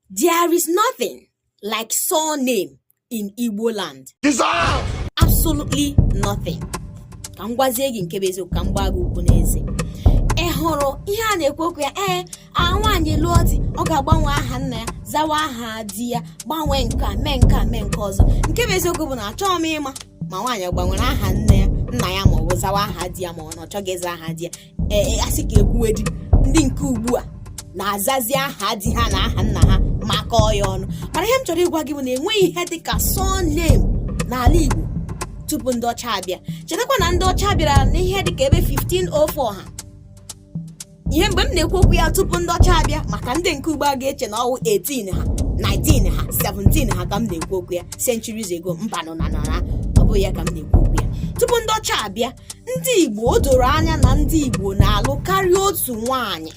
There is nothing like surname in Igbo land. Absolutely nothing. ka m gwazie gị nke bụ eziokwu ka m gbaa gị ụkwụ n'eze ị hụrụ ihe a na-ekwu okwu ya ee nwaanyị lụọ di ọ ga-agbanwe aha nna ya zawa aha di ya gbanwee nke a mee nke a mee nke ọzọ nke bụ eziokwu bụ na achọghị m ịma ma nwaanyị gbanwere aha nne ya nna ya ma ọ bụ zawa aha di ya ma ọ na ọ chọghị ịza aha di ya ee a sị ka e kwuwedị ndị nke ugbu a na-azazi aha di ha na aha nna ha makọọ ya ọnụ mana ihe m chọrọ ịgwa gị bụ na enweghị ihe dị ka surname n'ala Igbo tupu ndị ọcha abịa chetakwa na ndị ọcha bịara n'ihe dị ka ebe 1504 ha ihe mgbe m na-ekwu okwu ya tupu ndị ọcha abịa maka ndị nke ugbu a ga-eche na ọ wụ 18 ha 19 ha 17 ha ka m na-ekwu okwu ya centuries ago mbanụ na nara ọ bụghị ya ka m na-ekwu okwu ya tupu ndị ọcha abịa ndị Igbo o doro anya na ndị Igbo na-alụ karịa otu nwaanyị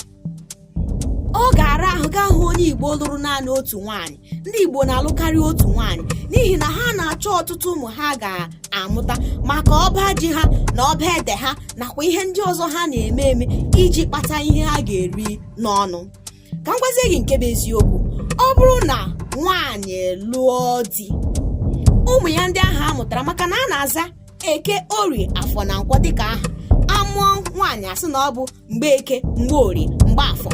ọ ga-ara ahụ gị ahụ onye Igbo lụrụ naanị otu nwaanyị ndị Igbo na-alụ karịa otu nwaanyị n'ihi na ha na-achọ ọtụtụ ụmụ ha ga-amụta maka ọba ji ha na ọba ede ha nakwa ihe ndị ọzọ ha na-eme eme iji kpata ihe ha ga-eri n'ọnụ ka m gwazie gị nke bụ eziokwu ọ bụrụ na nwaanyị lụọ di ụmụ ya ndị ahụ a mụtara maka na a na-aza eke orie afọ na nkwọ dịka aha a mụọ nwaanyị a sị na ọ bụ mgbeke mgborie mgbafọ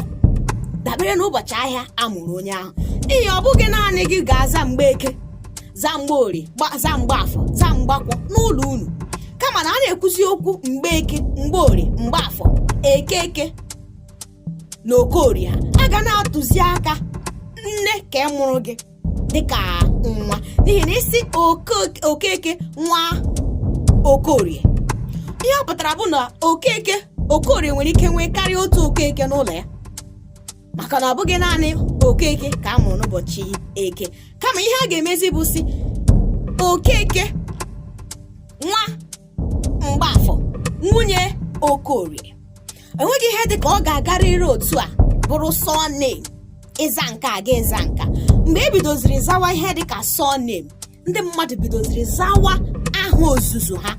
dabere n'ụbọchị ahịa a mụrụ onye ahụ n'ihi ọ bụghị naanị gị ga-aza mgbeke zaa mgborie zaa mgbafọ zaa mgbakwọ n'ụlọ unu kama na a na-ekwuzi okwu mgbeke mgborie mgbafọ okeke na okorie a ga na-atụzi aka nne nke a mụrụ gị dịka nwa n'ihi na ị sị okeke nwa okorie ihe ọ pụtara bụ na okeke okorie nwere ike nwee karịa otu okeke n'ụlọ ya maka na ọ bụghị naanị okeke ka a mụrụ n'ụbọchị eke kama ihe a ga-emezi bụ sị okeke nwa mgbafọ nwunye okorie enweghị ihe dị ka ọ ga-agarịrị otu a bụrụ surname ịza nka a ga ịza nka mgbe e bidoziri zawa ihe dị ka surname ndị mmadụ bidoziri zawa aha ozuzu ha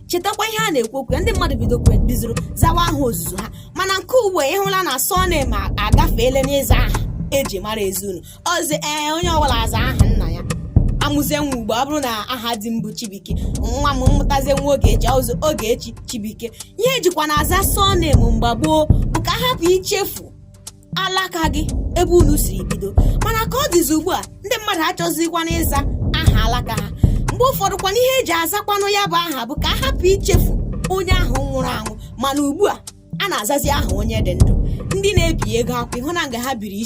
chetakwa ihe a na-ekwu okwu ndị mmadụ bidoziri zawa aha ozuzu ha mana nke ugbu a ịhụla na surname agafeela n'ịza aha e ji mara ezinụlọ ọzi ee onye ọbụla aza aha nna ya amụzie nwa ugbu a ọ bụrụ na aha di m bụ chibuike nwa m mụtazie nwa ogechi ọ zaa ogechi chibuike ihe e jikwa na-aza surname mgbe gboo bụ ka a hapụ ichefu alaka gị ebe unu siri bido mana ka ọ dịzi ugbu a ndị mmadụ achọzikwana ịza aha alaka ha mgbe ụfọdụ kwana ihe e ji azakwanụ ya bụ aha bụ ka a hapụ ichefu onye ahụ nwụrụ anwụ mana ugbu a a na-azazi aha onye dị ndụ ndị na-ebi ego akwụ ị hụna nga ha biri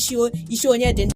isi onye dị ndụ